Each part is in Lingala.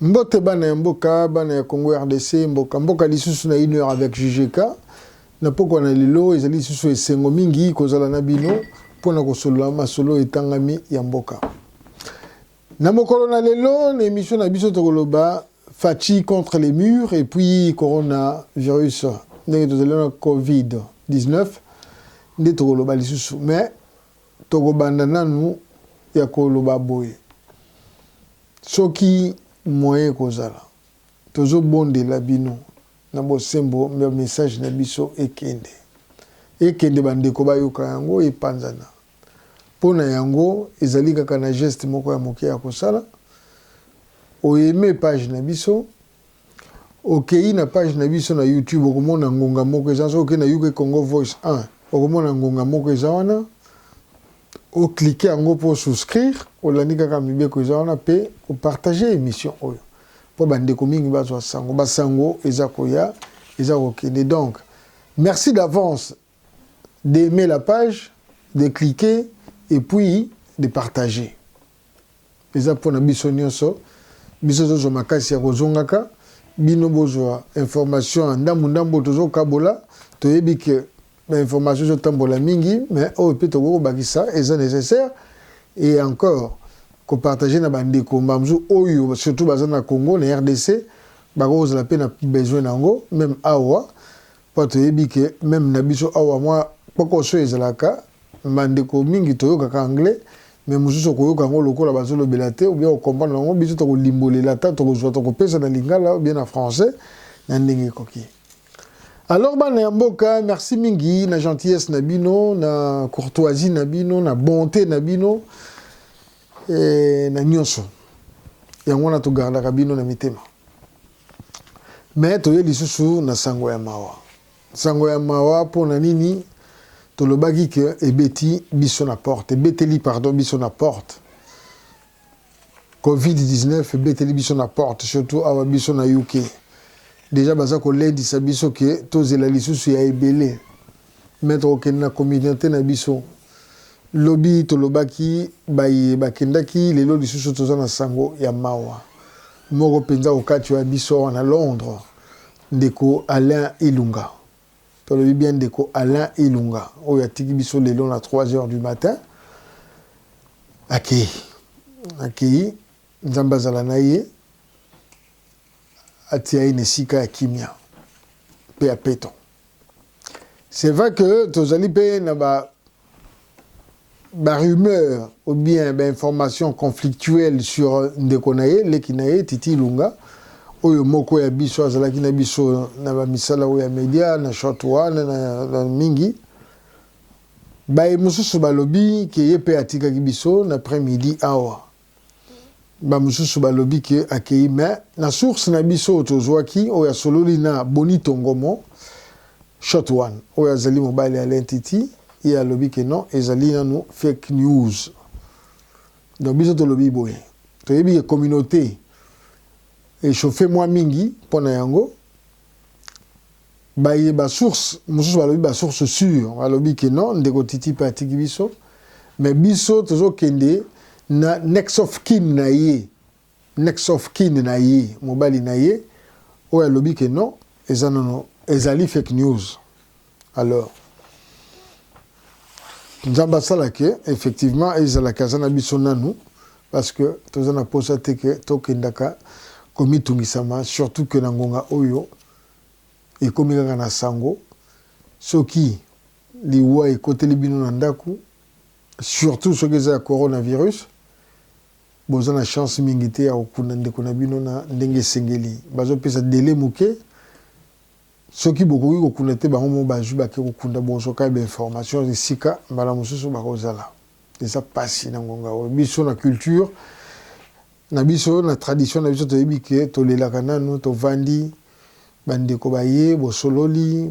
Mbote bana ya mboka, bana ya Congo RDC, mboka mboka lisusu na une heure avec JJK. Na pokwa na lelo ezali lisusu esengo mingi kozala na bino mpo na kosolola masolo etangami ya mboka. Na mokolo na lelo na emission na biso tokoloba Fatshi contre les murs et puis coronavirus ndenge tozali na Covid-19 nde tokoloba lisusu mais Tokobanda nanu ya koloba boye soki moyen ekozala. Tozo bondela bino na bosembo ba message na biso ekende. Ekende ba ndeko bayoka yango epanzana. Po na yango ezali kaka na geste moko ya moke ya kosala, o aimer page na biso. Okeyi na page na biso na YouTube okomona ngonga moko eza soki okeyi na UK Congo Voice 1 okomona ngonga moko eza wana o cliquer yango mpo souscrire olandi kaka mibeko eza wana mpe opartage émission oyo mpo bandeko mingi bazwa sango basango eza koya eza kokende donc merci d'avance d'aimer la page, de cliquer et puis de partager. Eza pona biso nionso, biso tozwa makasi ya kozongaka, bino bozwa information ya ndambu ndambu tozo kabola, toyebi que ba information ezo tambola mingi mais oyo pe tokoki kobakisa eza necessaire et encore ko partager na ba ndeko mbala mosusu oyo surtout baza na Congo na RDC bakoki kozala pe na besoin na yango meme awa Papa toyebi que meme na biso awa mwa kpokoso ezalaka, ba ndeko mingi toyokaka anglais mais mosusu okoyoka yango lokola bazolobela te ou bien o comprendre bango, biso tokolimbolela ata tokozua tokopesa na lingala ou bien na français na ndenge ekoki. Alors bana ya mboka merci mingi na gentillesse na bino, na courtoisie na bino, na bonte na bino eh, na nyonso yango wana togardaka bino na mitema. Mais toye lisusu na sango ya mawa. Sango ya mawa pona nini? Tolobaki que ebeti biso na porte, ebeteli pardon biso na porte. Covid 19 ebeteli biso na porte surtout awa biso na UK. Deja baza kolendisa biso que tozela lisusu ya ebele. Mais tokokende na comediante na biso lobi tolobaki baye bakendaki lelo lisusu toza na sango ya mawa moko penza okati oya biso awa na Londres ndeko Alain Ilunga tolobi bien ndeko Alain Ilunga oyo atiki biso lelo na 3 heures du matin akei akei nzambe azala na ye atia ye na esika ya kimia mpe ya peto C'est vrai que tozali mpe na ba ba rumeurs ou bien ba informations conflictuelles sur ndeko na ye leki na ye Titi Ilunga oyo moko ya biso azalaki na biso na ba misala oyo ya media na short wana na, na mingi baye mosusu balobi ke ye mpe atikaki biso na après midi awa Ba mususu balobi que akeyi mais na source na biso oyo tozuaki oyo asololi na Bonito Ngomo, Shot One, oyo azali mobali ya Alain Titi, ye alobi que non ezali nanu fake news. Donc biso tolobi boye, toyebi que communaute e chauffer mua mingi pona yango, Baye ba source mususu balobi ba source sure balobi que non ndeko Titi pe atiki biso mais biso tozo kende na next of kin na ye next of kin na ye mobali na ye oyo alobi que non eza nanu ezali fake news alors Nzambe asala que effectivement ezala que aza na biso nanu parce que toza na posa te que tokendaka komitungisama surtout que na ngonga oyo ekomi kaka na sango soki liwa ekoteli bino na ndaku surtout soki eza ya corona virus boza na chance mingi te ya kokunda ndeko na bino na ndenge esengeli bazopesa dele moke soki bokoki kokunda te bango mo bazwi bake kokunda bozwa kaka bainformation esika mbala mosusu bakozala eza pasi na ngonga oyo biso na culture Na biso na tradition na biso toyebi que tolelaka nanu tovandi ba ndeko baye bosololi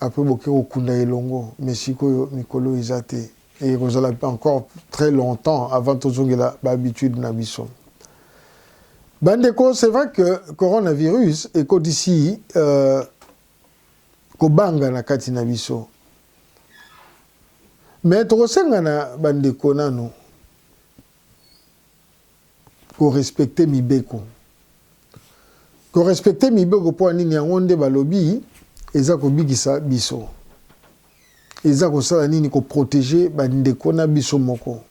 apres boke kokunda elongo mais sikoyo mikolo eza te et ekozala encore tres longtemps avant tozongela ba habitudes na biso ba ndeko c'est vrai que coronavirus ekotisi euh, kobanga na kati na biso mais tokosenga na ba ndeko nanu ko respecter mibeko ko respecter mibeko mpo ya nini yango nde balobi eza kobikisa biso eza kosala nini ko proteger bandeko na biso moko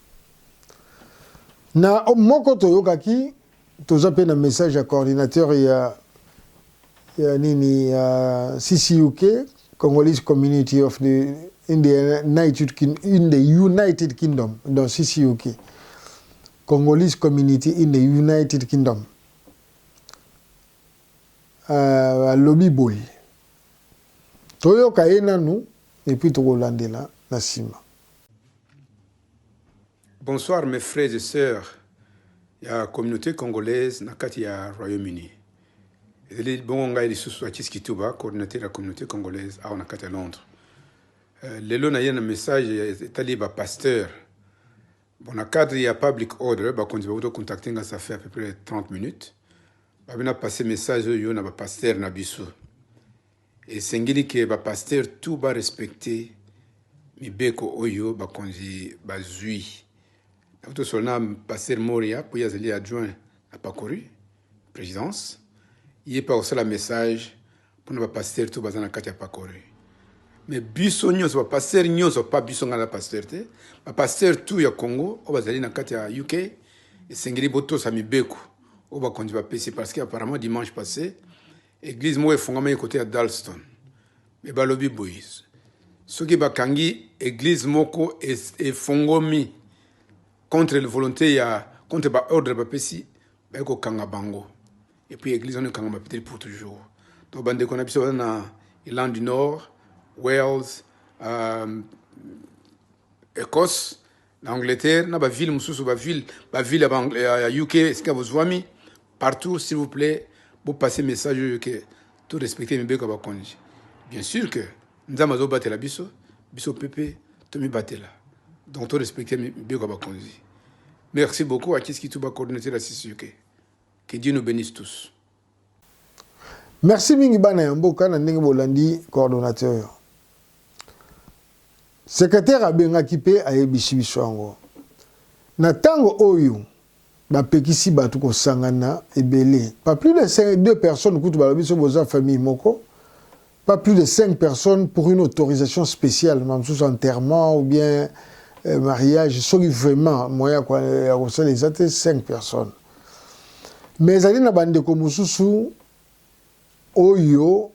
na moko toyokaki toza mpe na message ya coordinateur ya ya nini ya CCUK, Congolese Community of the in the United Kingdom, in the United Kingdom, dans CCUK, Congolese Community in the United Kingdom. Euh, alobi uh, boye toyoka ye nanu epuis tokolandela na nsima Bonsoir mes frères et sœurs ya communaute congolaise na kati ya Royaume Uni. Ezali bongo ngai lisusu Achis Kituba, coordinateur ya communaute congolaise awa na kati ya Londres. Euh, lelo naye na message etali ba pasteur bon na cadre ya public order bakonzi bakuti contacte nga ça fait à peu près 30 minutes babina passe message oyo na bapasteur na biso Esengeli que ba pasteurs tout ba respecter mibeko oyo bakonzi bazui. Nakuti tosolola na pasteur Moria mpo ye azali adjoint na pakori presidence, ye mpe akosala message mpo na ba pasteurs tout baza na kati ya pakori. Mais biso nyonso ba pasteurs nyonso pa biso ngai na pasteur te, ba pasteurs tout ya Congo oyo bazali na kati ya UK esengeli botosa mibeko oyo bakonzi bapesi parce que apparemment dimanche passe Eglise moko efungamaki kote ya Dalston me balobi boye soki bakangi eglise moko efongomi contre le volonte ya contre ba ordre bapesi baye kokanga bango epuis eglise wana ekangama peut-être pour toujours donc bandeko na biso baza na Irlande du Nord Wales euh, Ecosse na Angleterre, na ba ville mususu ba ville ba ville ya UK esika bozuami partout, s'il vous plaît bo passer message oyo que to respecter mibeko ya bakonzi. Bien sûr que Nzambe azobatela biso, biso pepe tomibatela. Donc to respecter mibeko ya bakonzi. Merci beaucoup à Kiski Tuba coordinateur ya CCUK. Que Dieu nous bénisse tous. Merci mingi bana ya mboka na ndenge bolandi coordonnateur oyo. Secretaire abengaki mpe ayebisi biso yango. Na ntango oyo bapekisi bato kosangana ebele, pas plus de deux personnes kutu balobi so boza famille moko pas plus de 5 personnes pour une autorisation spéciale ma mosusu enterrement ou bien euh, mariage soki vraiment moyen ya kosala eza te 5 personnes mais ezali na bandeko mosusu oyo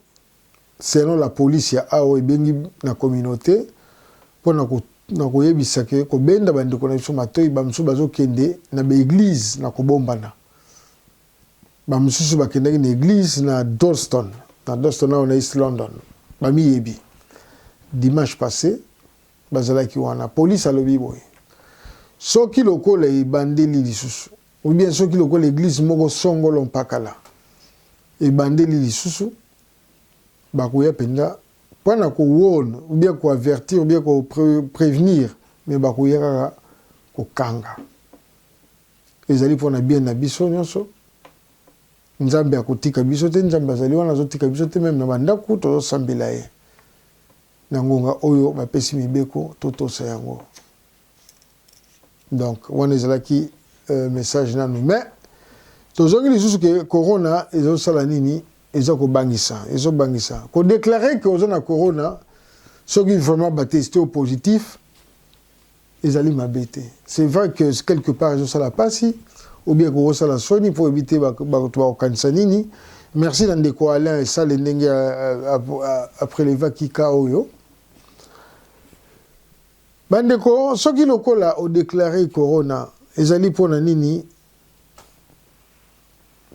selon la police ya awa ebengi na communauté mpo na koyebisa ke kobenda bandeko na biso matoi bamosusu bazokende na baeglize na kobombana Ba mosusu bakendaki na eglise na Dalston, na Dalston awa na East London, bamiyebi. Dimanche passe, bazalaki wana. Police alobi boye, soki lokola ebandeli lisusu, ou bien soki lokola eglise moko songolo mpakala ebandeli lisusu, bakoya mpenza mpo na ko warn, ou bien ko avertir, ou bien ko prevenir, mais bakoya kaka kokanga. Ezali pona bien na biso nionso. Nzambe akotika biso te, Nzambe azali wana azotika biso te meme na ba ndaku tozo sambela ye. Na ngonga oyo bapesi mibeko totosa yango. Donc wana ezalaki euh, message nanu mais tozongi lisusu ke corona ezosala nini eza kobangisa ezobangisa kodeklare ke oza na corona soki vraiment bateste yo positif Ezali mabe te c'est vrai que quelque part ezo sala pasi ou bien koko sala soni pour éviter ba ba to ba kanisa nini merci na ndeko Alain et sale ndenge a preleva kika oyo bandeko soki lokola o declarer corona ezali pona nini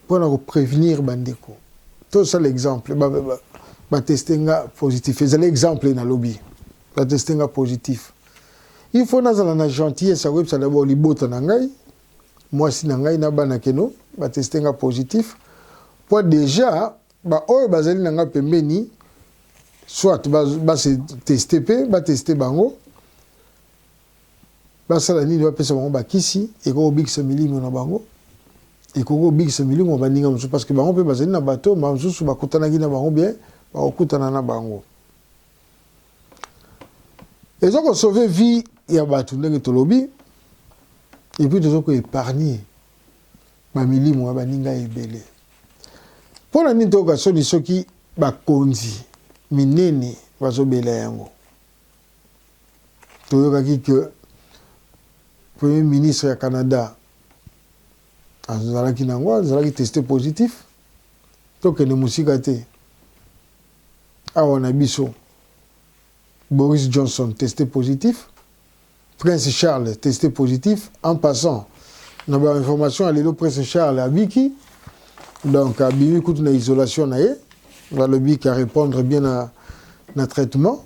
mpo na ko prevenir ba ndeko tosala exemple ba, ba, ba, ba teste nga positif ezali exemple na lobi ba teste nga positif il faut nazala na gentillesse ya koyebisa dabord libota na ngai mwasi na ngai na bana keno ba teste nga positif mpo deja baoyo bazali na ngai pembeni soit base teste mpe bateste bango Basala nini? Bapesa bango bakisi ekoki kobikisa milimo na bango, ekoki kobikisa milimo ya baninga mosusu, parce que bango mpe bazali na bato oyo mbala mosusu bakutanaki na bango bien bakokutana na bango. Eza ko sauver vie ya bato ndenge tolobi, et puis toza ko epargner bamilimo ya baninga ebele. Mpo na nini toyoka soni soki bakonzi minene bazobela yango? Toyokaki que Premier ministre ya Canada azalaki na yango, azalaki tester positif. Tokende mosika te, awa na biso Boris Johnson tester positif. Prince Charles teste positif en passant na ba information ya lelo Prince Charles abiki donc abimi kutu na isolation na ye balobi ka répondre bien na, na traitement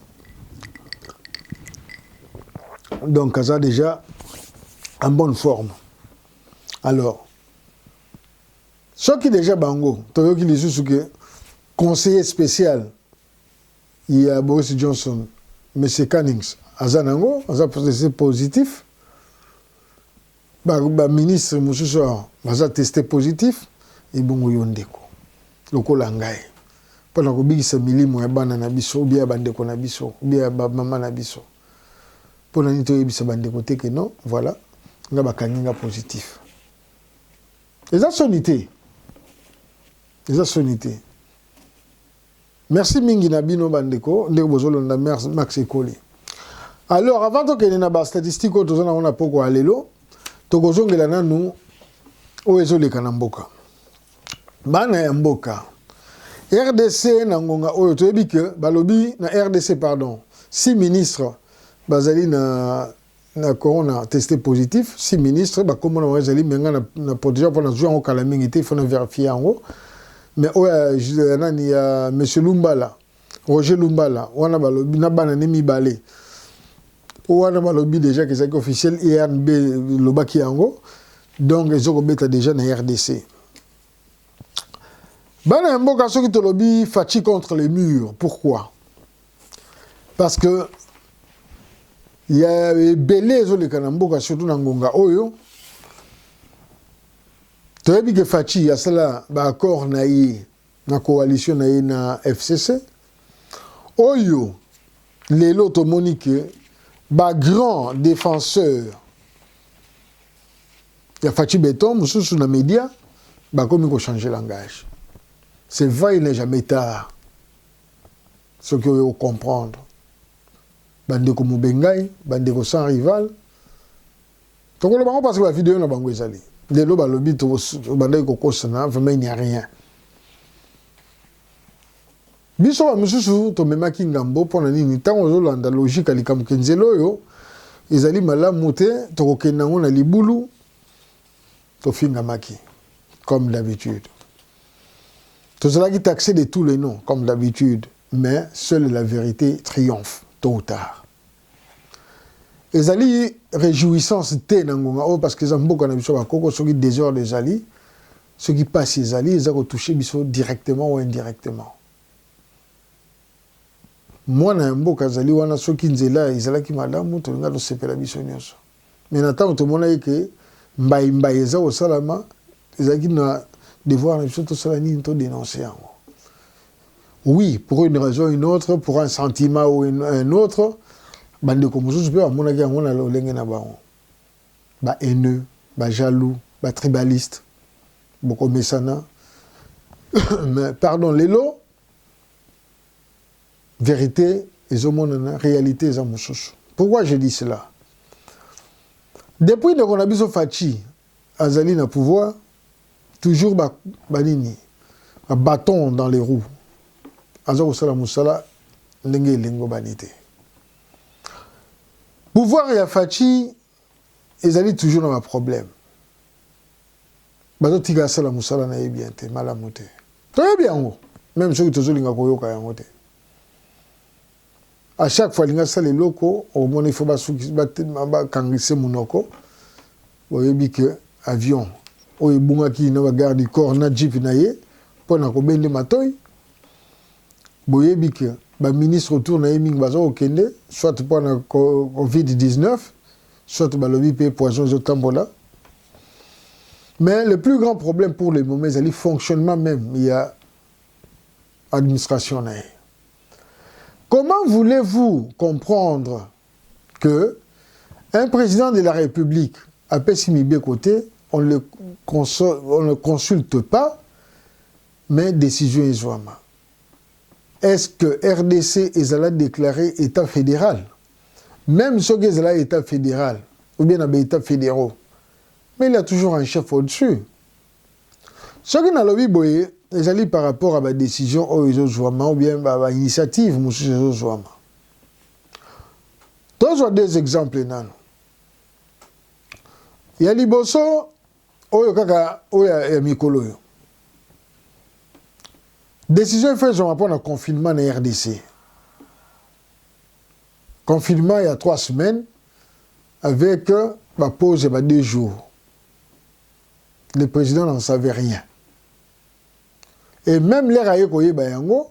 donc aza déjà en bonne forme alors soki déjà bango toyoki lisusu ke conseiller spécial ya Boris Johnson monsieur Cunnings aza na yango aza positif ba, ba ministre mosusu baza teste positif ebongo yo ndeko lokola ngai mpo na kobikisa milimo ya bana na biso ubia ya bandeko na biso ubia ya bamama na biso mpo na nini toyebisa bandeko te ke non voilà nga bakangi nga positif eza soni te eza soni te Merci mingi na bino ba ndeko ndenge bozo londa merci max ekoli. Alors avant to kende na ba statistiques oyo toza nango na poko ya lelo toko zongela nanu oyo ezo leka na mboka. Bana ya mboka RDC na ngonga oyo toyebi que balobi na RDC pardon si ministre bazali na na corona a teste positif si ministre ba kombo na bango ezali mais nga na proteger pona zui yango kala mingi te il faut na verifier yango mais oyo ya nani ya monsieur Lumbala Roger Lumbala wana balobi na bana ne mibale wana balobi deja ke ezalaki officiel IRNB e lobaki yango donc ezokobeta deja na RDC bana ya mboka soki tolobi faci contre les murs pourquoi parce que ya ebele ezoleka na mboka surtout na ngonga oyo toyebi ke faci asala baaccord na ye na coalition na ye na fcc oyo lelo tomoni ke bagrand défenseur ya faci beton mosusu na média bakomi kochange langage c'est vrai il n'est jamais tard soki oyo ocomprendre bandeko mobengai bandeko sans rival tokoloba yango parce que bavideo na bango ezali lelo balobi tobandaki kokosana vraiment il n'y a rien biso bamosusu tomemaki ngambo mpo na nini ntango ozolanda logike ya likambo kenzela oyo ezali malamu te tokokende yango na libulu Tofingamaki comme d'habitude. Tozalaki taxer de tous les noms comme d'habitude, mais seule la vérité triomphe tôt ou tard. Ezali réjouissance te na ngonga oyo parce que eza mboka na biso bakoko soki désordre ezali soki pasi ezali eza ko toucher biso directement ou indirectement. mwana ya mboka azali wana soki nzela ezalaki malamu tolinga tosepela biso nyonso Mais na tango tomonaki que mbayi mbayi eza kosalama, ezalaki na devoir na biso tosala nini? To denoncer yango. Oui, pour une raison ou une autre, pour un sentiment ou un autre, ba ndeko mosusu pe bamonaki yango na lolenge na bango. Ba haineux, ba jaloux, ba tribalistes. Bokomesana. Mais pardon, lelo Verite ezo monana realite eza mususu pourquoi je dis cela depuis ndeko na biso Fatshi azali na pouvoir toujours ba banini ba bâton dans les roues aza kosala musala ndenge elengobani te pouvoir ya Fatshi Ezali toujours na ba problème. Bazo tika asala musala na ye bien te, malamu te. Toyebi yango. Meme soki tozo linga koyoka yango te. A chaque fois linga sala eloko, omona il faut ba suki ba kangise munoko. Boyebi que avion oyo ebungaki na ba garde du corps na jeep na ye pona kobende matoyi. Boyebi que ba ministres autour na ye mingi baza kokende soit mpo na covid 19 soit balobi mpe poison ezotambola mais le plus grand problème pour le moment ezali fonctionnement même ya administration na ye comment voulez-vous comprendre que un président de la république apesi mibeko te on le, on le consulte pas Mais decision ezuama est ce que rdc ezala declare etat federal? Meme soki ezala etat federal ou bien na ba etats federaux mais il ya toujours un chef au dessus. Soki nalobi boye ezali par rapport à ba decision oyo ezozuama ou bien ba initiative mosusu ezozuama. Tozwa deux exemples nanu. Ya liboso oyo kaka oyo ya mikolo oyo decision efa ezwama mpo na confinement na rdc confinement ya trois semaines avec euh, bapause ya ba deux jours le président n'en savait rien et même lere aye koyeba yango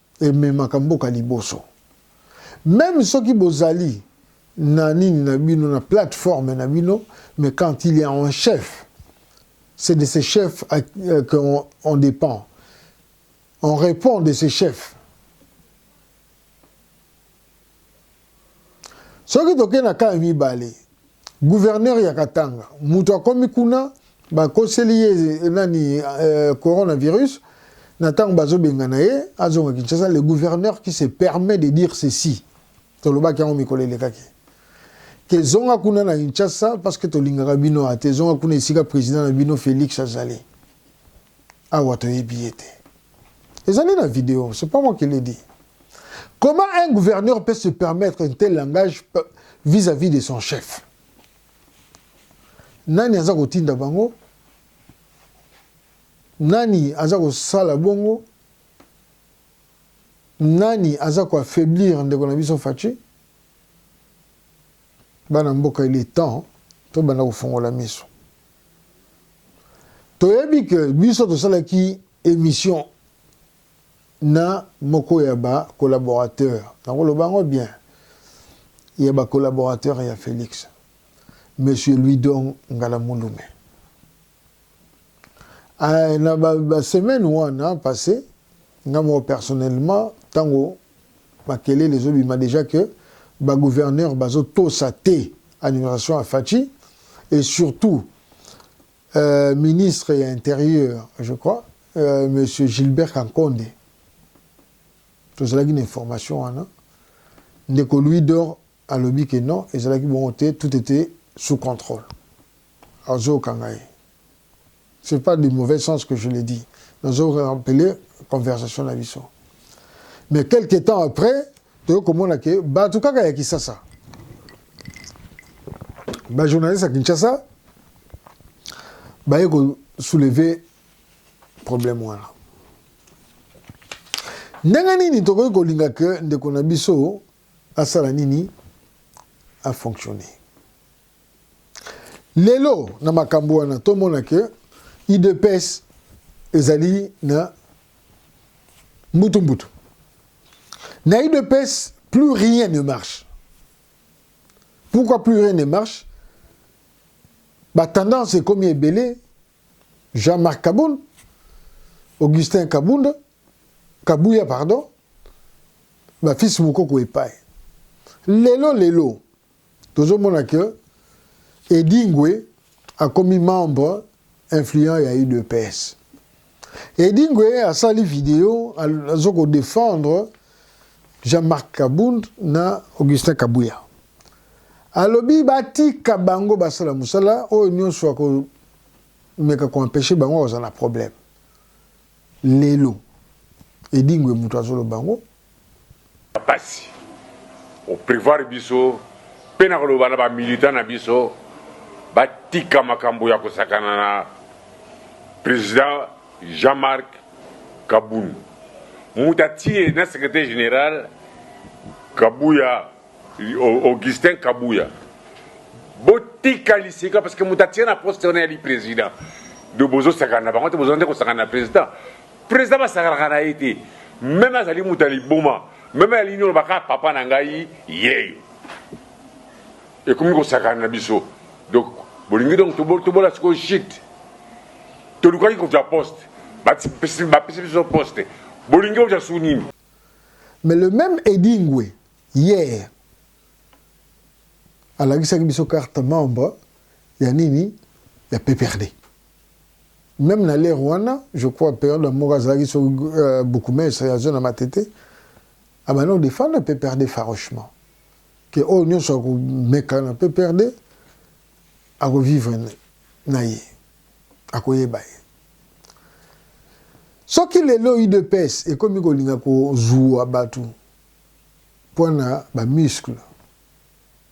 ememaka mboka liboso meme soki bozali na nini na bino na plateforme na bino mais quand il y a un chef c'est de ces chefs euh, qu'on on dépend on répond de ces chefs Soki tokei na cas ya mibale, gouverneur ya Katanga, mutu akomi kuna, bakoseli ye nani euh, coronavirus, na tango bazobengana ye azonga Kinshasa, le gouverneur qui se permet de dire ceci, tolobaki yango mikolo elekaki ke zonga kuna na Kinshasa parce que tolingaka bino ate zonga kuna esika president na bino Felix azali awa toyebi ye te ezali na video c'est pas moi qui le dit comment un gouverneur peut se permettre un tel langage vis-à-vis de son chef nani aza kotinda bango nani aza kosala bongo nani aza koaffaiblir ndeko na biso faci Bana mboka il est temps to banda ko fongola miso. Toyebi que biso tosalaki emission na moko ya ba collaborateurs nakoloba yango bien ya ba collaborateurs ya Felix monsieur Louidon Ngalamulume Eh, na ba, ba semaine wana passe nga moko personnellement tango makelele ezobima déjà que ba gouverneur bazotosa te annuration ya Fatshi et surtout euh, ministre ya intérieur je crois euh, monsieur Gilbert Kankonde tozalaki na information wana ndeko Louis Dor alobi que non ezalaki bongo te tout était sous contrôle Azoyoka ngai c'est pas de mauvais sens que je le dis nazo rappeler conversation na biso mais quelque temps après toyo komona ke bato kaka ya Kisasa ba journaliste ya Kinshasa baye ko soulever problème wana ndenge nini tokoki kolinga ke ndeko na biso asala nini afonctionne Lelo na makambo wana tomona ke udps ezali na mbutu mbutu na udps plus rien ne marche pourquoi plus rien ne marche batendance ekomi ebele Jean-Marc Kabund, Augustin Kabunda, Kabuya, pardon, ba fils Mukoko epai. Lelo, lelo, Tozo mona que Edingwe akomi membre influent ya udps. Edingwe asali video azo ko defendre Jean-Marc Kabund na Augustin Kabuya. Alobi batika bango basala musala oyo nionso ya ko meka ko empêcher bango kozala na problème. Lelo Edingwe mutu azoloba yango. Pasi o prevoir biso pe na koloba na ba militants na biso batika makambo ya kosakana na President Jean Marc Kabund. Mutu atiye na Secretaire general Kabuya Augustin Kabuya. Botika liseka parce que mutu atiye na poste wana eyali President. Donc bozosakana na bango te, bozalaki nde kosakana na President? President basakanaka na ye te meme azali moto ya liboma meme alingi oloba kaka papa na ngai yeyo ekomi kosakana na biso donc bolingi donc tobola sikoyo shit tolukaki kozwa poste bapesi biso poste bolingi ozwa su nini mais le même edingwe hier alakisaki biso carte membre ya nini ya pprd Meme na l'heure wana, je crois periode ya moko azalaki so euh, bourgmestre ya zone ya Matete, abandaki kodefendre PPRD farouchement ke oyo nyonso akomeka na PPRD akovivre na ye, akoyeba ye. Soki lelo UDPS ekomi kolinga kozua bato mpo na bamuscle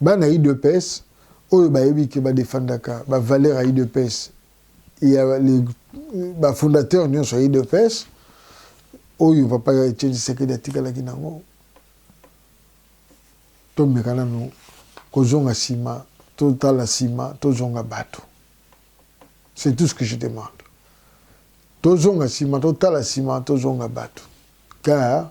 Bana udps oyo bayebi ke ba defendaka ba valeur ya udps ya ba fondateur nyonso ya udps oyo papa ya Etienne Tshisekedi atikalaki nango, tomeka nanu kozonga nsima, totala nsima, tozonga bato. C'est tout ce que je demande. Tozonga nsima, totala nsima, tozonga bato. Car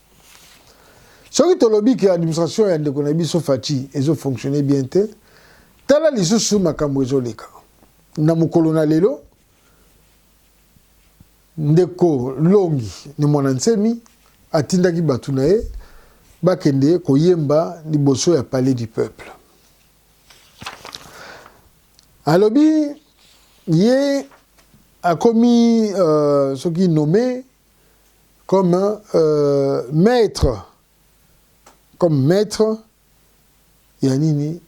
soki tolobi ke administration ya ndeko na biso Fatshi ezo fonctionner bien te tala lisusu makambo ezoleka na mokolo na lelo ndeko longi ni mwana nsemi atindaki bato na ye bakende koyemba liboso ya palais du peuple alobi ye akomi uh, soki nommé comme euh, maître comme maître ya nini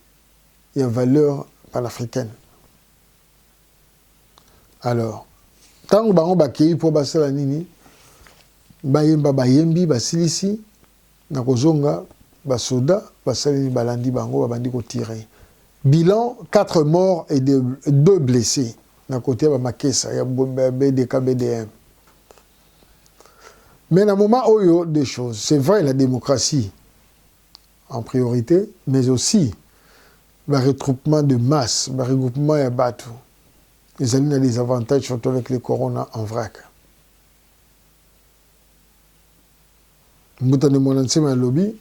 ya valeur panafricaine alors ntango bango bakei mpo basala nini bayemba bayembi basilisi Na kozonga, ba soda basaleli balandi bango, babandi ko tirer. Bilan, quatre morts et deux blesses na cote ya ba Makesa ya BDK BDM. Mais na moment oyo deux choses, c'est vrai la democratie en priorite, mais aussi ba retroupements de masse, ba regroupements ya batu ezali na des avantages surtout avec le corona en vrac. Mbuta nde mwana nsema alobi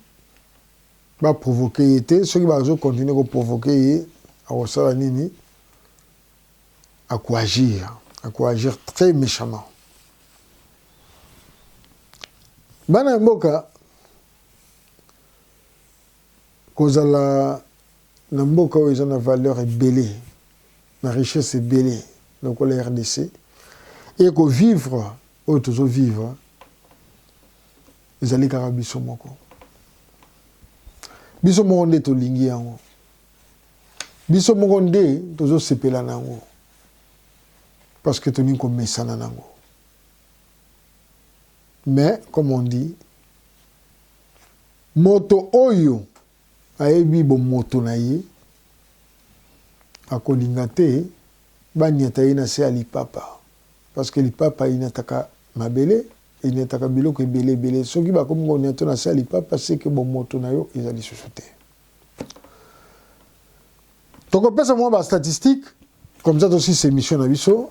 ba provoquer ye te soki bazo continuer ko provoquer ye akosala nini akoagir akoagir très méchamment bana ya mboka kozala na mboka oyo eza na valeur ebele na richesse ebele lokola rdc e kovivre Oyo tozo vivre ezali kaka biso moko, biso moko nde tolingi yango, biso moko nde tozo sepela na yango parce que tolingi komesana na yango. Mais comme on dit, moto oyo Ayebi bomoto na ye, akolinga te baniata ye na se ya lipapa parce que lipapa eniataka mabele, eniataka biloko ebele ebele. Soki bakomi koniata yo na se ya lipapa, c'est que bomoto na yo eza lisusu te. Tokopesa mwa ba statistiques comme ça tosilisa emission na biso.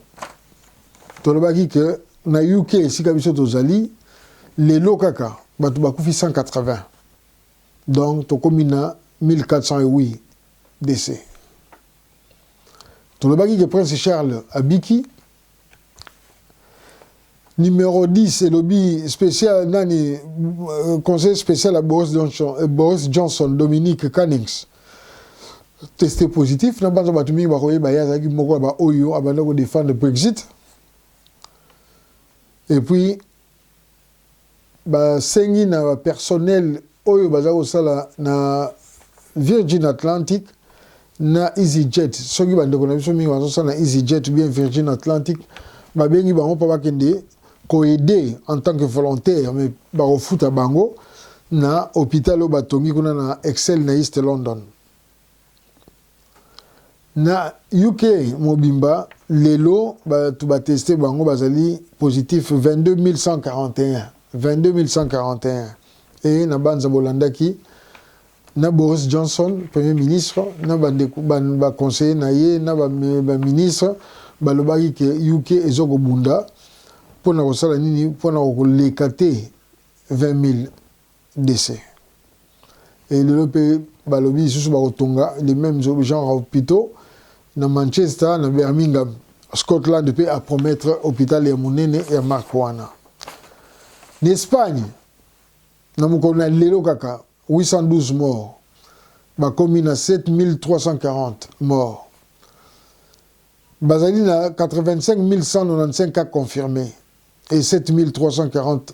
Tolobaki que na UK esika biso tozali lelo kaka bato bakufi 180 Donc tokomi na 1408 DC. Tolobaki ke Prince Charles abiki. Numero 10 elobi special nani euh, conseil special ya Boris Johnson, euh, Boris Johnson Dominique Cummings teste positif na banza bato mingi bakoyeba ye azalaki moko ya baoyo abanda kodefendre Brexit et puis Ba sengi na ba personnel oyo baza ko sala na Virgin Atlantic na Easy Jet, soki ba ndeko na biso mingi bazo sala na Easy Jet ou bien Virgin Atlantic, ba bengi bango po ba kende ko aider en tant que volontaire mais ba ko futa bango na hopital oyo ba tongi kuna na Excel na East London. Na UK mobimba, lelo bato ba tester bango bazali positif 22.141, 22.141, ee, nabanza bolandaki na Boris Johnson, Premier ministre, na bandeko ba conseillers na ye na ba ministres balobaki que UK ezo kobunda mpo na kosala nini? Mpo na koleka te 20.000. Rdc et lelo pe balobi lisusu bakotonga le meme genre ya hopitaux na Manchester, na Birmingham. Scotland pe a promettre hopital ya munene ya marque wana. Na Espagne, na mokolo na lelo kaka 812 morts bakomi na 7340 morts. Bazali na 85195 cas confirmes et 7340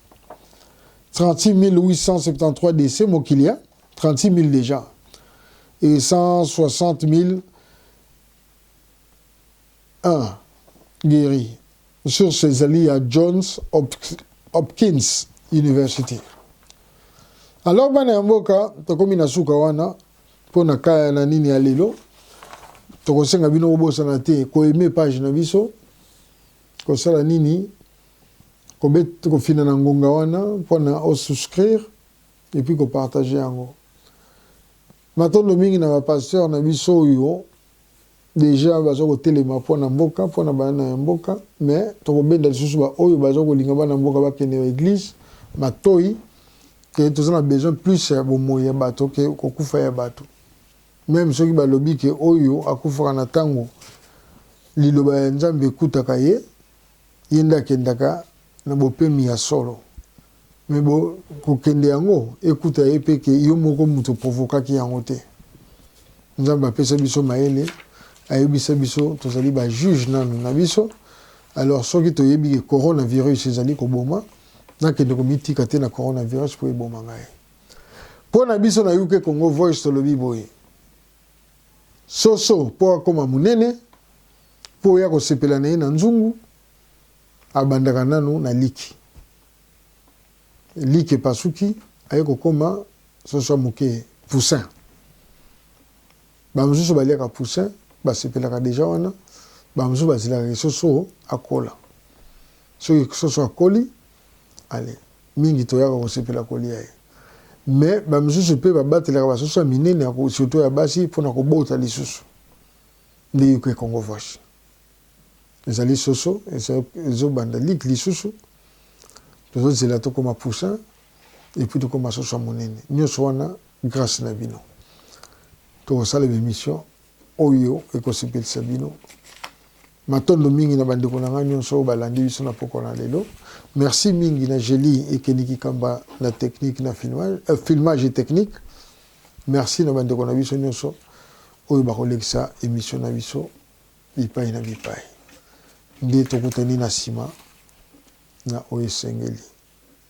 36873 décès mokili hein? 36000 déjà et 160000 1 guéri sur ses alliés à Johns Hopkins University alors bana ya mboka tokomi na suka wana mpo na kaya na nini ya lelo tokosenga bino kobosana te koyeme page na biso kosala nini Kobet kofina na ngonga wana pona o souscrire et puis ko partager yango. Matondo mingi na ba pasteurs na biso oyo deja baza kotelema pona mboka pona bana ya mboka mais tokobenda lisusu ba oyo baza kolinga bana mboka bakende na eglise matoyi ke toza na besoin plus ya bomoyi ya bato ke kokufa ya bato meme soki balobi ke oyo akufaka na tango liloba ya Nzambe ekutaka ye Ye nde akendaka na bopemi ya solo mais bo kokende yango ekuta ye pe ke yo moko mutu o provokaki yango te. Nzambe apesa biso mayele ayebisa biso tozali ba juge nanu na biso alors soki toyebi ke corona virus ezali koboma nakende komitika te na corona virus po eboma ngai. Po na biso na UK Congo Voice tolobi boye. Soso po akoma munene po oya kosepela na ye na nzungu abandaka nanu na liki. Liki epasuki aye kokoma soso ya muke poussin. Ba mususu baliaka poussin basepelaka deja wana ba mususu bazelaka ke soso akola. Soki soso akoli Allez. Mingi toyaka kosepela kolia ye. Mais ba misusu pe babatelaka ba soso ya minene ya ko surtout ya basi pona kobota lisusu. Nde yo ke Congo Voice. Ezali soso ezo banda lik lisusu. Tozo zela tokoma poussin et puis tokoma soso ya monene. Nionso wana grace na bino. Tokosala ba emission. Oyo ekosepelisa bino. Matondo mingi na bandeko na ngai nyonso oyo balandi biso na pokwa na lelo. Merci mingi na Jeli Ekeni Kikamba na technique na filmage, euh, filmage et technique. Merci na bandeko na biso nyonso oyo bakolekisa emission na biso bipai na bipai. Nde tokutani na nsima na oyo esengeli.